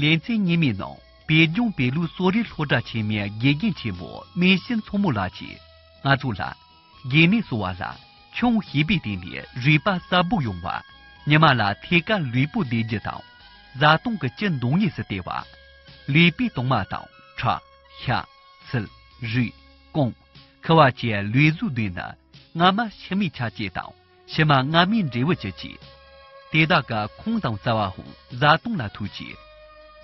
ལན་ཚྭའི་གཉེན་མི་ནང་པའི་སྙུང་བའི་ལུགས་སོགས་རི་ལྷོ་བྲག་ཆེན་མའི་དགེ་རྒན་ཆེན་མོ་སྨན་བཤེས་མཚོ་མོ་ལགས་ཀྱིས་ང་ཚོ་ལ། དགེ་མེད་གསོ་བ་ལ་ཆུང་ཞེས་པའི་སྟེང་ནས་རུས་པ་གསར་བུ་ཡོང་བ། ཉི་མ་ལ་ཐད་ཀར་ལུས་པོ་བདེ་རྒྱུ་དང། བཟའ་བཏུང་གི་སྐྱི་མདོག་གཉིས་སུ་བལྟས་པ། ལུས་པའི་དྭངས་མ་དང་ཁྲག། ཤ། ཚིལ། རུས། རྐང། ཁུ་བ་བཅས་ལུས་གཟུགས་བདུན་ནི་སྔ་མ་ཕྱི་མའི་ཆ་བཅས་དང། ཕྱི་མ་སྔ་མའི་འབྲས་བུ་ཅི་བྱེད། དེ་དག་ག་ཁོང་དང་རྩ་བའང་བཟའ་བཏུང་ལ་ཐུག་ཅིག།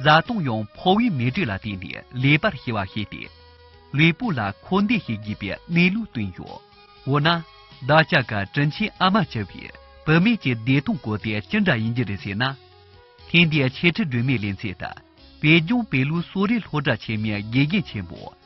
བཟའ་བཏུང་ཡང་ཕོ་བའི་མེ་དྲོད་ལ་བརྟེན་ནས་ལེགས་པར་ཤེས་པར་བྱས་ཏེ། ལུས་པོ་ལ་འཁོར་འདས་ཤེས་དགོས་པའི་གནས་ལུགས་བསྟན་ཡོད། འོ་ན། བདག་ཅག་ག་དྲིན་ཆེན་ཨ་མ་བྱ་བའི་བུད་མེད་ཀྱི་བདེ་སྟོང་གོ་དེ་ཅི་འདྲ་ཡིན་རྒྱུ་རེད་ཟེར་ན། ཐེངས་འདིའི་འཆད་ཁྲིད་སྒྲོན་མེའི་ལན་ཚིག་དག་བོད་ལྗོངས་བོད་ལུགས་གསོ་རིག་སློབ་གྲྭ་ཆེན་མོའི་དགེ་རྒན་ཆེན་མོ།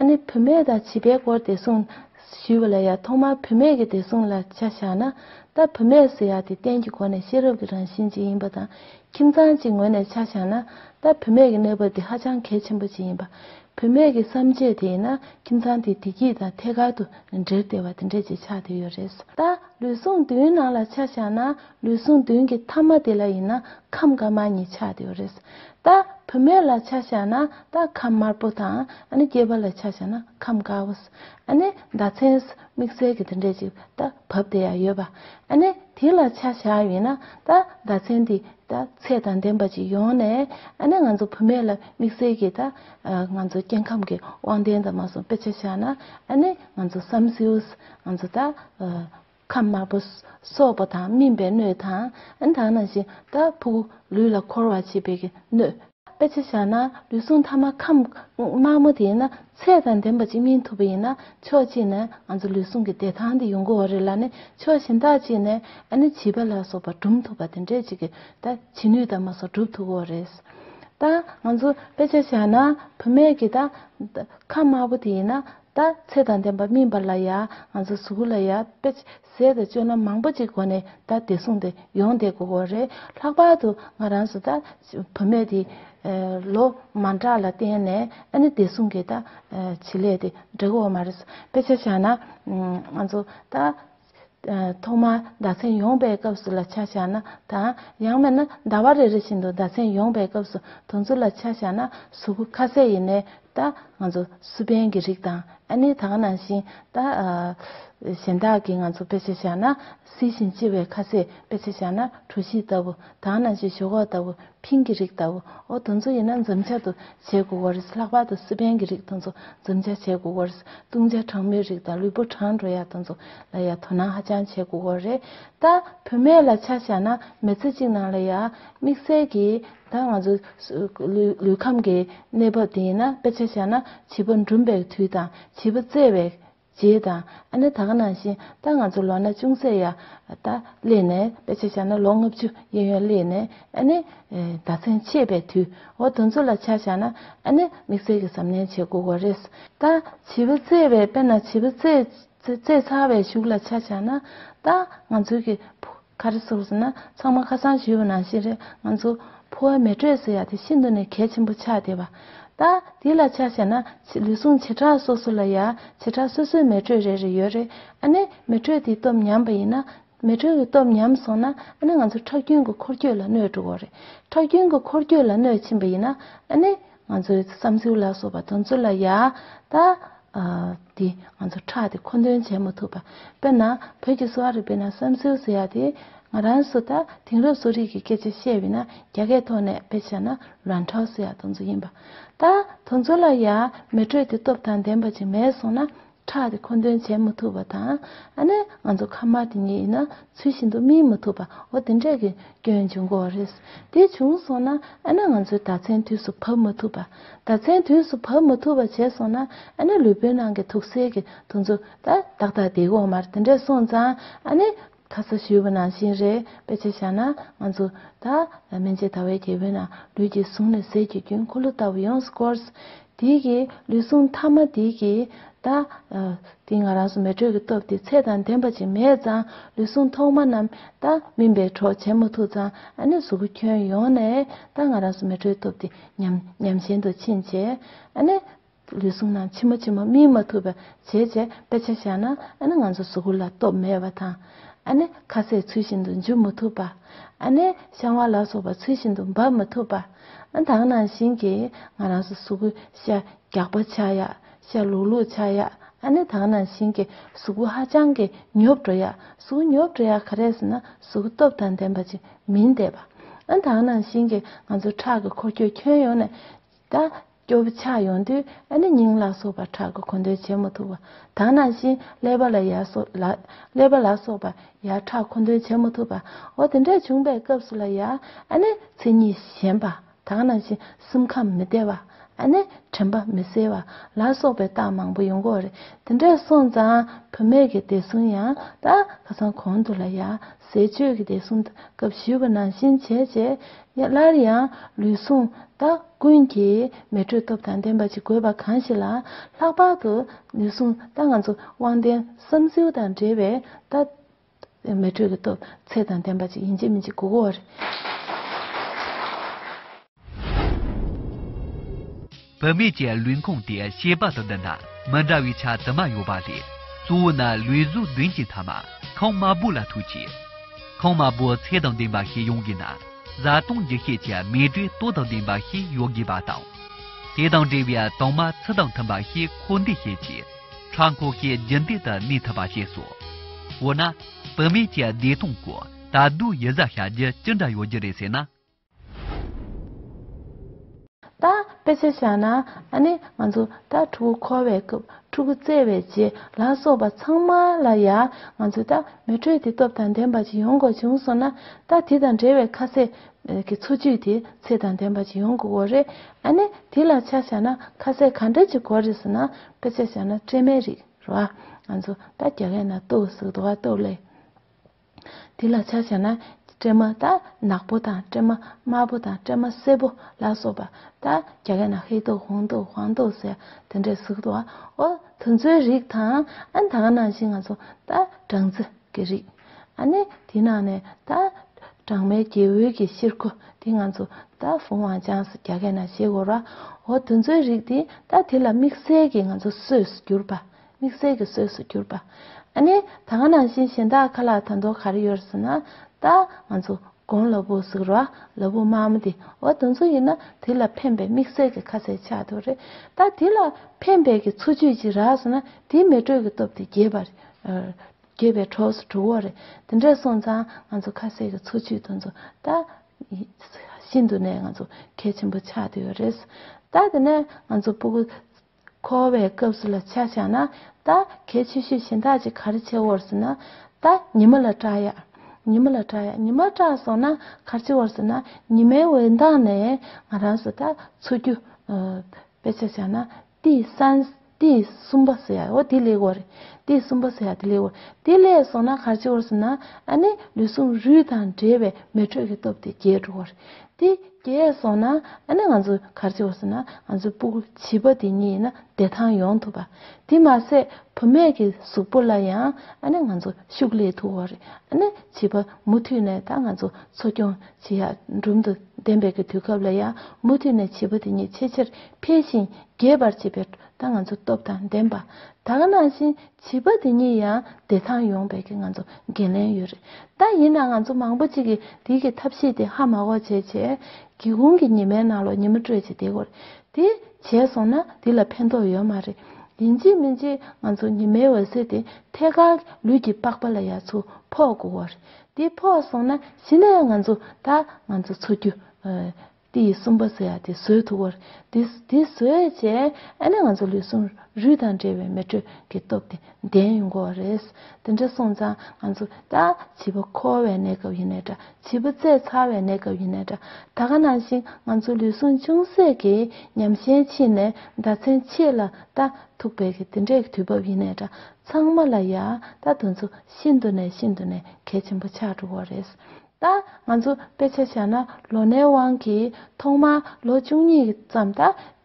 ཨ་ནེ་བུད་མེད་དང་བྱིས་པའི་སྐོར་བདེ་སྲུང། ཞུས་པ་ལ་ཡང་ཐོག་མར་བུད་མེད་ཀྱི་བདེ་སྲུང་ལ་ཆ་བཞག་ན། ད་བུད་མེད་ཟེར་ཡག་དེ་གཏན་གྱི་སྒོ་ནས་ཤེས་རབ་ཀྱི་རང་བཞིན་ཅིག་ཡིན་པ་དང་ཁྱིམ་ཚང་གཅིག་ངོས་ནས་ཆ་བཞག་ན། ད་བུད་མེད་ཀྱི་གནས་བབ་དེ་ཧ་ཅང་གལ་ཆེན་པོ་ཅིག་ཡིན་པ། བུད་མེད་ཀྱི་བསམ་སྤྱོད་དེ་ཡིན་ན་ཁྱིམ་ཚང་དེའི་བདེ་སྐྱིད་དང་ཐད་ཀར་དུ་འབྲེལ་བདེ་བ་དེ་འདྲ་ཅིག་ཆགས་བསྡད་ཡོད་རེད། ད་ལུས་ཟུངས་བདུན་ནང་ལ་ཆ་བཞག་ན། ལུས་ཟུངས་བདུན་གྱི་ཐ་མ་དེ་ལ་ཡིན་ན་ཁམས་དཀར་དམར་གཉིས་ཆགས་ཡོད་རེད། ད་བུད་མེད་ལ་ཆ་བཞག་ན་ད་ཁམས་དམར་པོ་དང་ཨ་ནི་སྐྱེས་པ་ལ་ཆ་བཞག་ན་ཁམས་དཀར་བོ། ཨ་ནི་ཟླ་མཚན་དམིགས་བསལ་གྱི་དེ་འདྲས་ཅིག་ད་བབས་དེ་ཡང་ཡོད་པ། ཨ་ནི་དེ་ལ་ཆ་བཞག་ཡོད་ན་ད་ཟླ་མཚན་དེ་ད་ཚད་དང་ལྡན་པ་ཅིག་ཡོང་ནས་ཨ་ནི་ང་ཚོ་བུད་མེད་ལ་དམིགས་བསལ་གྱི་ད་ང་ཚོ་སྐྱེ་ཁམས་ཀྱི་དབང་ལྡན་དང་མ་སོང་དཔེ་ཆ་བཞག་ན་ཨ་ནི་ང་ཚོ་བསམ་སེའུ། ང་ཚོ་ད། ཁམས་དམར་པོ། སོག་པོ་དང་སྨིན་པའི་སྣོད་དང། དག་སྣང་ཤིང་རྟ་ཕུག། ལུས་ལ་འཁོར་བར་བྱེད་པའི་སྣོད། དཔེ་ཆ་བཞག་ན་ལུས་ཟུངས་ཐ་མ་ཁམས་དམར་མོ་དེ་ཡིན་ན་ཚད་དང་ལྡན་པ་གཅིག་སྨིན་ཐུབ་པ་ཡིན་ན་ཕྱོགས་གཅིག་ནས་ང་ཚོ་ལུས་ཟུངས་ཀྱི་བདེ་ཐང་དེ་ཡོང་གི་འོ་རེད་ལ་ནི་ཕྱོགས་གཞན་དག་གཅིག་ནས་ཨ་ནི་བྱིས་པ་ལ་སོགས་པ་སྦྲུམ་ཐུབ་པ་དེ་འདྲས་གཅིག་གི་ད་བྱིས་ནུས་དང་མ་སོགས་སྒྲུབ་ཐུབ་གི་འོ་རེད། ད་ང་ཚོ་དཔེ་ཆ་བཞག་ན་བུད་མེད་ཀྱི་ད་ཁམས་དམར་པོ་དེ་ཡིན་ན། ད་ཚེ་དང་ལྡན་པ་སྨིན་པ་ལ་ཡང་ང་ཚོ་གཟུགས་སྐུ་ལ་ཡང་དཔེ་བྱད་དང་བཅོས་ན་མང་པོ་ཅིག་གོ་ནས་ད་བདེ་སྲུང་དེ་ཡོང་བསྡད་དགོས་གོ་རེད་ལྷག་པར་དུ་ང་རང་སུ་ད་བུ་མེད་དེ། ལོ་མ་འདྲ་ལ་བརྟེན་ནས་ཨ་ནི་བདེ་སྲུང་གི་ད་བྱེད་ལས་དེ་འགྲིག་གོ་མ་རེད་དཔེ་ཆ་བཞག་ན་ང་ཚོ་ད་ཐོག་མར་ཟླ་མཚན་ཡོངས་པའི་སྐབས་སུ་ལ་ཆ་བཞག་ན་དང། ཡང་མེད་ན་ཟླ་བ་རེ་རེ་བཞིན་དུ་ཟླ་མཚན་ཡོངས་པའི་སྐབས་སུ་དུང་ཆུ་ལ་ཆ་བཞག་ན་གཟུགས་ཁ་ཟས་ཡེ་ནས་ལྟ། ང་ཚོ་སུ་ཕན་གྱི་རིགས་དང་ཨ་ནི་དག་ནང་བཞིན་ལྟ། གཞན་དག་གིས་ང་ཚོ་དཔེ་ཆ་བཞག་ན་བསིལ་ཞིང་ལྕི་བའི་ཁ་ཟས་དཔེ་ཆ་བཞག་ན་གྲུ་བཞི་ལྟ་བུ་དག་ནང་བཞིན་ཞོག་ཁོག་ལྟ་བུ་ཕིང་གི་རིགས་ལྟ་བུ་ཨོ་དོ་མཚོ་ཡིན་ན་འཛུམ་བྱ་དུ་བྱས་དགུ་བར་སེ་ལྷག་པ་དུ་སི་པན་གི་རིགས་དུ་མཚོ་འཛུམ་བྱ་བྱས་དགུ་བར་སེ་ཏུང་བྱ་གྲང་མོའི་རིགས་དང་ལུས་པོ་གྲང་འགྲོ་ཡག་དུ་མཚོ་ལ་ཡ་དོ་ནང་ཧ་ཅང་བྱས་དགུ་བར་རེད་ད། བུད་མེད་ལ་ཆ་བཞག་ན་མེ་ཚེ་གཅིག་ནང་ལ་ཡ། དམིགས་བསལ་གྱི་ད་ང་ཚོ་ལུས་ཁམས་ཀྱི་གནས་བབ་དེ་ཡིན་ན་དཔེ་ཆ་བཞག་ན་བྱིས་པ་འབྲུམ་པའི་དུས་དང་བྱིས་པ་བཙས་བའི་ཅེས་དང། ཨ་ན་ད་ག་ནང་བཞིན་ད་ང་ཚོ་ལོ་ན་ཅུང་ཟད་ཡ། ད། སླེབས་ནས་དཔེ་ཆ་བཞག་ན་ལོ་ལྔ་བཅུ་གཡས་གཡོན་སླེབས་ནས་ཨ་ནི། ཟླ་མཚན་ཕྱེད་པའི་དུས་འོ་དོ་ཚོ་ལ་ཆ་བཞག་ན་ཨ་ནི་དམིགས་བསལ་གྱི་གཟབ་ནན་བྱེད་དགོས་བ་རེད། ད། བྱིས་པ་བཙས་བའི་དཔེ་ན་བྱིས་པ་བཙས། བཙས་ཚར་བའི་གཞུག་ལ་ཆ་བཞག་ན། ད། ང་ཚོའི་གི། ཁ་རེ་ཟུག་ཟེར་ན་ཚང་མ་ཁ་སང་ཞུས་པ་ནང་བཞིན་རེད་ང་ཚོ། ཕོ་བའི་མེ་དྲོད་ཟེར་ཡག་དེ་ཤིན་ཏུ་ནས་གལ་ཆེན་པོ་ཆགས་བསྡད་པ། ད། དེ་ལ་ཆ་བཞག་ན། ལུས་ཟུངས་བྱེ་བྲག་སོ་སོ་ལ་ཡ། བྱེ་བྲག་སོ་སོའི་མེ་དྲོད་རེ་རེ་ཡོད་རེད། ཨ་ནི། མེ་དྲོད་དེའི་སྟོབས་ཉམས་པ་ཡིན་ན། མེ་དྲོད་ཀྱི་སྟོབས་ཉམས་སོང་ན། ཨ་ནི་ང་ཚོ་ཁྲག་རྒྱུན་གྱི་འཁོར་སྐྱོད་ལ་གནོད་འགྲོ་གོ་རེད། ཁྲག་རྒྱུན་གྱི་འཁོར་སྐྱོད་ལ་གནོད་ཕྱིན་པ་ཡིན་ན། ཨ་ནི། ང་ཚོའི་བསམ་ཚུལ་ལ་སོགས་པ་དོན་ཚུལ་ལ་ཡ་ད་དེ་ང་ཚོ་ཕྲག་དེ་མཁོ་འདོན་བྱེད་མ་ཐུབ་པ་དཔེར་ན་བོད་ཀྱི་གསོ་བ་རིག་པའི་ནང་བསམ་ཚུལ་ཟེར་ཡ་དེ་ང་རང་སུ་ད་དེང་རབས་གསོ་རིག་གི་སྐད་ཆ་བཤད་འི་ན་རྒྱ་སྐད་ཐོག་ནས་དཔེ་བཤད་ན་ལོན་ཁྲའོ་ཟེར་ཡ་དོན་ཚུལ་ཡིན་པ་ད་དོན་ཚུལ་ལ་ཡ་མེ་དྲོད་དེ་སྟོབས་དང་ལྡན་པ་ཅིག་མེད་སོང་ན་ཁྲག་དེ་མཁོ་འདོན་བྱེད་མི་ཐུབ་པ་དང། ཨ་ནི་ང་ཚོ་ཁ་དམར་དེ་ཉིད་ཡིན་ན་ཚུལ་བཞིན་དུ་སྨིན་མི་ཐུབ་པའོ་དེ་འདྲས་ཀྱི་སྐྱོན་འབྱུང་གོ་རེད། དེ་བྱུང་སོང་ན་ཨ་ནི་ང་ཚོའི་ཟླ་མཚན་དུས་སུ་བབས་མི་ཐུབ་པ། ཟླ་མཚན་དུས་སུ་བབས་མི་ཐུབ་པ་བྱས་སོང་ན་ཨ་ནི་ལུས་པོའི་ནང་གི་དུག་སེལ་གྱི་འདུ་འཛོ་ད་ཏག་ཏག་དེ་གོང་མར་དེ་འདྲས་སོང་ཙང་ཨ་ནི། ཁ་ས་ཞུས་པ་ནང་བཞིན་རེད་དཔེ་ཆ་བཞག་ན་ང་ཚོ་ད་མན་ཆད་ད་བའི་རྒྱལ་པོའི་ནང་ལུས་ཀྱི་ཟུངས་ནས་ཟས་ཀྱི་རྒྱུན་འཁོར་ལོ་ལྟ་བུ་ཡོངས་སུ་བསྐོར། དེའི་གི་ལུས་ཟུངས་མཐའ་མ་དེའི་གི་ད་དེ་ང་རང་སོ་མེད་དྲོད་ཀྱི་སྟོབས་དེ་ཚད་དང་ལྡན་པ་ཅིག་མེད་ཙང་ལུས་ཟུངས་ཐོག་མ་རྣམས་ད་སྨིན་པའི་གྲོགས་བྱེད་མ་ཐུབ་ཙང་ཨ་ནི་གཟུགས་པོ་ཁྱོན་ཡོངས་ནས་ད་ང་རང་སོ་མེད་དྲོད་སྟོབས་དེ་ཉམས་ཉམས་ཞན་དུ་ཕྱིན་བྱས་ཨ་ནི། ལུས་ཟུངས་རྣམས་ཕྱི་མ་ཕྱི་མ་སྨིན་མ་ཐུབ་པར་བྱེད་ཅེས་དཔེ་ཆ་བཞག་ན་ཨ་ནི་ང་ཚོ་གཟུགས་ལ་སྟོབས་མེད་པ་དང། ཨ་ནི་ཁ་ཟས་ཚུལ་བཞིན་དུ་འཇུ་མི་ཐུབ་པ། ཨ་ནི་བཤང་བ་ལ་སོགས་པ་ཚུལ་བཞིན་དུ་འབབ་མི་ཐུབ་པ། དག་ནང་བཞིན་གྱི་ང་རང་ཚོ་གཟུགས་པོ་ཤ་རྒྱགས་པ་ཆགས་ཡག་ཤ་ལུག་ལུག་ཆགས་ཡག་ཨ་ནི་དག་ནང་བཞིན་གྱི་གཟུགས་པོ་ཧ་ཅང་གི་ཉོབ་འགྲོ་ཡག་གཟུགས་ཉོབ་འགྲོ་ཡག་ག་རེ་ཟེར་ན་གཟུགས་སྟོབས་དང་ལྡན་པ་ཅིག་མིན་བསྡད་པ། དག་ནང་བཞིན་གྱི་ང་ཚོ་ཁྲག་གི་འཁོར་སྐྱོད་ཁྱོན་ཡོངས་ནས་ད་སྐྱོ་བོ་ཆགས་ཡོང་དུས་ཨ་ནེ་སྙིང་ལ་སོགས་པ་ཁྲག་གི་འཁོན་འདོན་བྱེད་མི་ཐུབ་པ་དང་ནང་བཞིན་ཀླད་པ་ལ་ཡར་སོགས་ལ་ཀླད་པ་ལ་སོགས་པ་ཡར་ཁྲག་འཁོན་འདོན་བྱེད་མི་ཐུབ་པའོ་དེ་འདྲ་བྱུང་པའི་སྐབས་སུ་ལ་ཡར་ཨ་ནེ་ཚིག་གཉིས་ཞེན་པ་དང་ནང་བཞིན་སེམས་ཁམས་མི་བདེ་བ་ཨ་ནེ་དྲན་པ་མི་གསལ་བ་ལ་སོགས་པའི་རྟགས་མང་པོ་ཡོང་གོ་རེད་དེ་འདྲས་སོང་ཙང་བུད་མེད་ཀྱི་བདེ་སྲུང་ཡང་དག་ཁ་སང་གོང་དུ་ལ་ཡར་ཟས་སྤྱོད་ཀྱི་བདེ་སྲུང་སྐབས་ཞུས་པ་ནང་བཞིན་བྱས་རྗེས་སླར་ཡང་ལུས་ཟུངས་དག་ཀུན་གྱིས་མེ་དྲོད་སྟོབས་དང་ལྡན་པ་ཅིག་དགོས་པ་གང་ཞིག་ལ། ལྷག་པར་དུ་ལུས་ཟུངས་དག་ང་ཚོ་དབང་ལྡན་བསམ་སེའུ་དང་འདྲེས་པའི་སྟབས། མེ་དྲོད་ཀྱི་སྟོབས་ཚད་དང་ལྡན་པ་ཅིག་ཡིན་གཅིག་མིན་གཅིག་དགོས། བུད་མེད་ཀྱི་ལུས་ཁུངས་དེ་ཤེས་པ་དང་ལྡན་ན་མི་འདྲ་བའི་ཆ་དུ་མ་ཡོད་པ་ལས། གཙོ་བོ་ནི་ལུས་གཟུགས་མདུན་གྱི་མཐའ་མ་ཁང་དམར་པོ་ལ་ཐུག་ཅིང། ཁང་དམར་པོ་ཚད་དང་ལྡན་པ་ཞིག་ཡོང་དགོས་ན་བཟའ་བཏུང་འགྱུར་ཤས་ཀྱི་མེ་དྲོད་ལྟོ་དང་ལྡན་པ་ཞིག་ཡོད་དགོས་པ་དང། དེ་དང་འབྲེལ་བའི་དྭངས་མ་ཚུལ་དང་མཐུན་པ་ཞིག་འཁོར་འདས་ཤེས་ཀྱི་ཕྲག་མཁོ་ཤས་རྒྱུན་མཐུད་དུ་གནས་ཐུབ་པ་བྱས་སོ། འོ་ན། བུད་མེད་ཀྱི་བདེ་ཐང་སྐོར་ད་དུང་ཡིད་གཟབ་བྱ་རྒྱུ་ཅི་འདྲ་ཡོད་རྒྱུ་རེད་ཟེར་ན། ད་དཔེ་ཆ་བཞག་ན་ཨ་ནི་ང་ཚོ་ད་ཕྲུ་གུ་འཁོར་བའི་སྐབས་ཕྲུ་གུ་བཙས་བའི་རྗེས་ལ་སོགས་པ་ཚང་མ་ལ་ཡང་ང་ཚོས་ད་མེ་དྲོད་དེ་སྟོབས་དང་ལྡན་པ་ཞིག་ཡོང་དགོས་བྱུང་སོང་ན་ད་དེ་དང་འབྲེལ་བའི་ཁ་ཟས་ཀྱི་འཚོ་བཅུད་དེ་ཚད་དང་ལྡན་པ་ཞིག་ཡོང་དགོས་འོ་རེད་ཨ་ནི་དེ་ལ་ཆ་བཞག་ན་ཁ་ཟས་ག་འདྲ་ཅིག་དགོས་རེད་ཟེར་ན་དཔེ་ཆ་བཞག་ན་སྤྲེལ་མའི་རིགས་རེད་བ་ང་ཚོ་ད་རྒྱ་སྐད་ན་ཏུའུ་ཟེར་དུ་བ་ཏུའུ་ལེ། དེ་ལ་ཆ་བྱས་ན་སྤྲེལ་མ་དག་ནག་པོ་དང་སྤྲེལ་མ་དམར་པོ་དང་སྤྲེལ་མ་སེར་པོ་ལ་སོགས་པ་དག་རྒྱ་སྐད་ན་ཧེ་ཏོག་ཧོང་ཏོག་ཧོང་ཏོག་ཟེར་དེ་འདྲའི་གཟུགས་དང་འོ་དོ་མཚོའི་རིགས་དང་ཨན་དང་ཨ་ནང་བཞིན་ང་ཚོ་ད་སྦྲང་རྩི་གི་རིགས་ཨ་ནི་དེ་ནང་ནས་ད་སྦྲང་མའི་སྐྱེ་བོའི་གི་ཤེར་ཁུ་དེ་ང་ཚོ་ད་ཧྥུང་ཝང་ཅང་སི་རྒྱ་སྐད་ན་ཤེ་གོ་ར་འོ་དོ་མཚོའི་རིགས་དེ་ད་དེ་ལ་དམིགས་བསལ་གི་ང་ཚོ་སོས་གྱུར་པ་དམིགས་བསལ་གྱི་གསོས་སུ་གྱུར་པ། ཨ་ནི། ད་ང་ནང་བཞིན་གཞན་དག་ཁ་ལག་དང་དོ་ག་རེ་ཡོད་ཟེར་ན། ད། ང་ཚོ། དགོང་ལ་བུ་གཟུགས་རོ་ཨ། ལ་བུ་མ་འམ་དེ། འོ་དོ་མཚུངས་ཡིན་ན། དེ་ལ་ཕན་པའི་དམིགས་བསལ་གྱི་ཁ་ཟས་ཆགས་འདུག་རེད། ད། དེ་ལ། ཕན་པའི་གི་འཚོ་བཅུད་ཅིག་རགས་ཟེར་ན། དེའི་མེ་དྲོད་ཀྱི་སྟོབས་དེ་རྒྱས་པ། རྒྱས་པའི་གྲོགས་སུ་གྲུབ་བོ་རེད། དེ་འདྲས་སོང་ཙང། ང་ཚོ་ཁ་ཟས་ཀྱི་འཚོ་བཅུད་དུ་འཚོ། ད། ཤིན་ཏུ་ནས་ང་ཚོ། གལ་ཆེན་པོ་ཆགས་འདུག་ཡོད་རེད། ད་དེ་ནས། ང་ཚོ་སྤུ་གུ། འཁོར་བའི་སྐབས་སུ་ལ་ཆགས་བྱ་ན། ད་གལ་ཆེ་ཤོས་གཞན་དག་ཅིག་ག་རེ་བྱེད་བར་ཟེར་ན། ད་ཉི་མ་ལ་སྐྲག་ཡ། ཉི་མ་ལ་སྐྲག་ཡ་ཉི་མ་སྐྲག་སོང་ན་ག་རེ་བྱེད་བར་ཟེར་ན། ཉི་མའི་འོད་མདངས་ནས་ང་རང་སུ་དག་འཚོ་རྒྱུ། དཔེ་ཆ་བྱ་ན་ཏི་སན། ཏི་གསུམ་པ་ཟེར་ཡ་འོ་དེ་ལེགས་བ་རེད། ཏི་གསུམ་པ་ཟེར་ཡ་དེ་ལེགས་བ་རེད། དེ་ལེགས་སོང་ན་ག་རེ་བྱེད་བར་ཟེར་ན། ཨ་ནི་ལུས་ཟུངས་རུས་དང་འབྲེལ་བའི་མེ་དྲོད་ཀྱི་སྟོབས་དེ་རྒྱས་འགྲོ་བ་རེད། དེ་གས་སོང་ན་ཨ་ནི་ང་ཚོ་གར་བྱེད་སོང་ན་ང་ཚོའི་སྤུ་གུ་བྱིས་པ་དེ་གཉིས་ཡིན་ན་བདེ་ཐང་ཡོང་ཐུབ་པ། དེ་མ་ཟད་བུ་མེད་ཀྱི་གཟུགས་པོ་ལ་ཡང་ཨ་ནི་ང་ཚོ་ཤུགས་ལས་ཐུ་བོ་རེད་ཨ་ནི་བྱིས་པ་མུ་མཐུད་ནས་ད་ང་ཚོ་འཚོ་སྐྱོང་བྱེད་ཡག་འབྲུམ་དུ་འདེམས་པའི་གི་དུས་སྐབས་ལ་ཡང་མུ་མཐུད་ནས་བྱིས་པ་དེ་གཉིས་ཆེས་ཆེར་འཕེལ་ཞིང་རྒྱས་པར་བྱེད་པའི་ད་ང་ཚོ་སྟོབས་དང་ལྡན་པ་དག་ནང་བཞིན་བྱིས་པ་དེ་གཉིས་ཡང་བདེ་ཐང་ཡོང་བའི་ང་ཚོ་འགན་ལེན་ཡོད་རེད་ད་ཡིན་ན་ང་ཚོ་མང་པོ་ཅིག་གིས་དེ་གི་ཐབས་ཤེས་དེ་ཧ་མ་གོ་བྱས་བྱས་སྒེའུ་ཁུང་གི་ཉི་མའི་ནང་ལོག་ཉི་མ་སྤྲོད་བྱེད་དེ་གོ་རེད་དེ་བྱས་སོང་ན་དེ་ལ་ཕན་ཐོག་ཡོད་མ་རེད་ཡིན་ཅིག་མིན་ཅིག་ང་ཚོ་ཉི་མའི་འོད་ཟེར་དེ་ཐད་ཀར་ལུས་ཀྱི་པགས་པ་ལ་ཡར་ཚུར་ཕོག་དགོས་གོ་རེད་དེ་ཕོག་སོང་ན་གཞི་ནས་ང་ཚོ་ད་ང་ཚོ་འཚོ་རྒྱུ་དེ་ཡི་གསུམ་པ་ཟེར་ཡ་དེ་ཟོས་ཐུག་བར་དེ་དེ་ཟོས་བྱས་ཨེ་ན་ང་ཚོ་ལུས་ཟུངས་རུས་དང་འབྲེལ་བའི་མེ་དྲོད་ཀྱི་སྟོབས་དེ་ལྡན་ཡོང་དགོས་བ་རེད། དེ་འདྲ་སོང་ཙང་ང་ཚོ་ད་བྱིས་པ་འཁོར་བའི་གནས་སྐབས་ཡིན་ནའི་འདྲ་བྱིས་པ་བཙས་ཚར་བའི་གནས་སྐབས་ཡིན་ནའི་འདྲ་ད་ག་ནང་བཞིན་ང་ཚོ་ལུས་ཟུངས་ཅུང་ཟད་ཀྱིས་ཉམས་ཞན་ཕྱིན་ནས་ཟླ་མཚན་ཕྱེད་ལ་ད་ཐུག་པའི་གི་དེ་འདྲའི་གི་དུས་བབ་ཡིན་ནའི་འདྲ་ཚང་མ་ལ་ཡ་ད་དུས་ཚོད་ཤིན་ཏུ་ནས་ཤིན་ཏུ་ནས་གལ་ཆེན་པོ་ཆགས་འགྲོ་བ་རེད། ད་ང་ཚོ་དཔེ་ཆ་བྱས་ན་ལོ་ནའི་དབང་གིས་ཐོག་མར་ལོ་བཅུ་གཉིས་ཙམ་ད་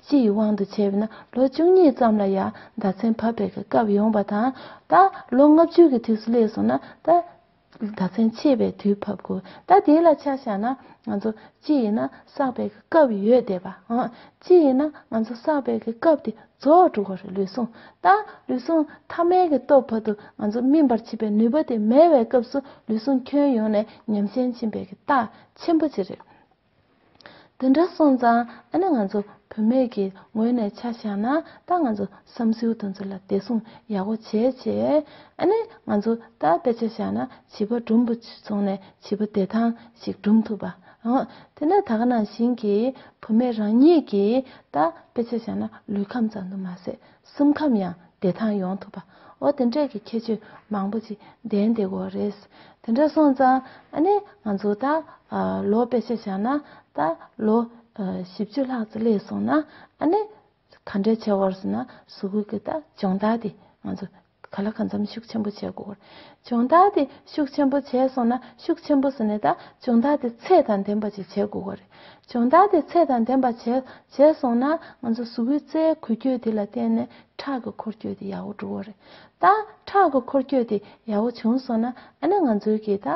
ཅི་ཡི་དབང་དུ་བྱས་པས་ན་ལོ་བཅུ་གཉིས་ཙམ་ལ་ཡང་ཟླ་མཚན་བབས་པའི་སྐབས་ཡོང་བ་དང། ད་ལོ་ལྔ་བཅུ་གི་དུས་སུ་སླེབས་སོང་ན་ད་ཟླ་མཚན་ཕྱེད་པའི་དུས་བབས་དགོས། ད་དེ་ལ་ཆ་བཞག་ན་ང་ཚོ་ཅི་ཡིན་ན་བསགས་པའི་སྐབས་ཡོད་བསྡད་པ། ཅི་ཡིན་ན་ང་ཚོ་བསགས་པའི་སྐབས་དེ་རྫོགས་དྲུག་གོ་རེ་ལུས་ཟུངས་དང་ལུས་ཟུངས་ཐ་མལ་གྱི་སྟོབས་བར་དུ་ང་ཚོ་སྨིན་པར་བྱེད་པའི་ནུས་པ་དེ་མེད་བའི་སྐབས་སུ་ལུས་ཟུངས་ཁྱོན་ཡོངས་ནས་ཉམས་ཞན་ཕྱིན་པའི་གི་རྟགས་ཆེན་པོ་གཅིག་རེད། དེ་འདྲ་སོང་ཙང་ཨ་ནི་ང་ཚོ་བུད་མེད་ཀྱི་ངོས་ནས་ཆ་བཞག་ན་ད་ང་ཚོ་བསམ་སེའུ་དང་ཚུར་ལ་བདེ་སྲུང་ཡག་པོ་བྱས་བྱས་ཨ་ནི་ང་ཚོ་ད་དཔེ་ཆ་བཞག་ན་བྱིས་པ་སྦྲུམ་པོ་བྱུང་ནས་བྱིས་པ་བདེ་ཐང་ཞིག་སྦྲུམ་ཐུབ་པ། དེས་ན་དག་སྣང་ཞིང་གི་བུ་མོས་རང་ཉིད་ཀྱི་ད་དཔེ་ཆ་བཞག་ན་ལུས་ཁམས་ཙམ་དུ་མ་ཟད་སེམས་ཁམས་ཡང་བདེ་ཐང་ཡོང་ཐུབ་པ་འོ་དེ་འདྲས་ཀྱི་ཁྱད་ཆོས་མང་པོ་ཅིག་ལྡན་བདེ་གོ་རེད། དེ་འདྲ་སོང་ཙང་ཨ་ནི་ང་ཚོ་ད་ལོ་དཔེ་ཆ་བཞག་ན་ད་ལོ་བཞི་བཅུ་ལྷག་ཙི་སླེབས་སོང་ན་ཨ་ནི་ག་འདྲའི་ཆེ་བར་སོང་ན་སུ་ཁུལ་གྱི་ད་སྦྱོང་བརྡར་དེ་ང་ཚོ་ག་ལ་གང་འཚམ་ཤུགས་ཆེན་པོ་བྱེད་དགོས་བར། སྦྱོང་བརྡར་དེ་ཤུགས་ཆེན་པོ་བྱས་སོང་ན་ཤུགས་ཆེན་པོ་སོང་ནས་ད་སྦྱོང་བརྡར་དེ་ཚད་དང་ལྡན་པ་ཞིག་བྱེད་དགོས་བར། སྦྱོང་བརྡར་དེ་ཚད་དང་ལྡན་པ་བྱས་སོང་ན་ང་ཚོ་སུ་ཁུལ་རྩྭའི་འཁོར་སྐྱོད་དེ་ལ་བརྟེན་ནས་ཁྲག་གི་འཁོར་སྐྱོད་དེ་ཡག་བོ་འགྲོ་བ་རེད། ད་ཁྲག་གི་འཁོར་སྐྱོད་དེ་ཡག་བོ་བྱུང་སོང་ན་ཨ་ན་ང་ཚོའི་གི་ད་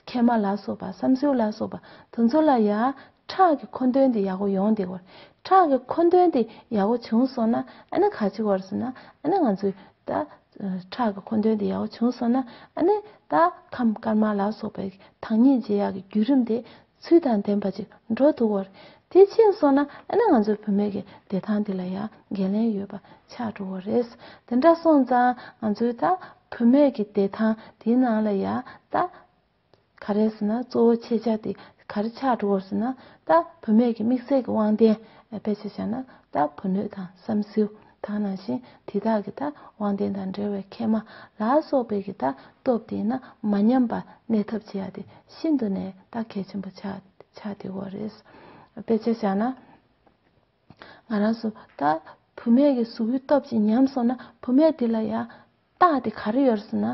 མཁལ་མ་ལ་སོགས་པ་བསམ་སྲོལ་ལ་སོགས་པ་དེ་ཚོ་ལ་ཡང་ཁྲག་གི་མཁོ་འདོན་དེ་ཡག་པོ་ཡོང་དེ་བར་ཁྲག་གི་མཁོ་འདོན་དེ་ཡག་པོ་བྱུང་སོང་ན་ཨ་ནི་ག་ཅིག་བར་སོང་ན་ཨ་ནི་ང་ཚོས་ད་ཁྲག་གི་མཁོ་འདོན་དེ་ཡག་པོ་བྱུང་སོང་ན་ཨ་ནི་ད་ཁམས་དཀར་དམར་ལ་སོགས་པའི་ཐང་ཉིད་རྗེ་ཡག་གི་བརྒྱུད་རིམ་དེ་ཚུལ་དང་ལྡན་པ་ཅིག་འགྲོ་འདུག་བར་དེ་ཕྱིན་སོང་ན་ཨ་ནི་ང་ཚོའི་བུད་མེད་ཀྱི་བདེ་ཐང་དེ་ལ་ཡང་འགན་ལེན་ཡོད་པ་ཆགས་འགྲོ་བ་རེད་དེ་འདྲ་སོང་ཙང་ང་ཚོའི་ད་བུད་མེད་ཀྱི་བདེ་ཐང་དེའི་ནང་ལ་ཡང་ད་ག་རེ་ཟེར་ན་གཙོ་བོ་ཁྱེད་ཅག་དེ་ག་རེ་ཆགས་འགྲོ་བར་ཟེར་ན་ད་བུད་མེད་ཀྱི་དམིགས་བསལ་གྱི་དབང་ལྡན་ཕལ་ཆེར་ཆགས་ན་ད་བུ་སྣོད་དང་བསམ་སེའུ་དག་ནང་བཞིན་དེ་དག་གི་ད་དབང་ལྡན་དང་འབྲེལ་བའི་མཁལ་མ་ལ་སོགས་པའི་གི་ད་སྟོབས་དེ་ན་མ་ཉམས་པར་གནས་ཐབས་བྱེད་ཡ་དེ་ཤིན་ཏུ་ནས་ད་གལ་ཆེན་པོ་ཆགས་དེ་བོ་རེད། ཕལ་ཆེར་ཆགས་ན་ང་རང་སུ་ད་བུད་མེད་ཀྱི་གཟུགས་ཀྱི་སྟོབས་ཀྱིས་ཉམས་སོང་ན་བུད་མེད་དེ་ལ་ཡང། རྟགས་དེ་ག་རེ་ཡོད་ཟེར་ན་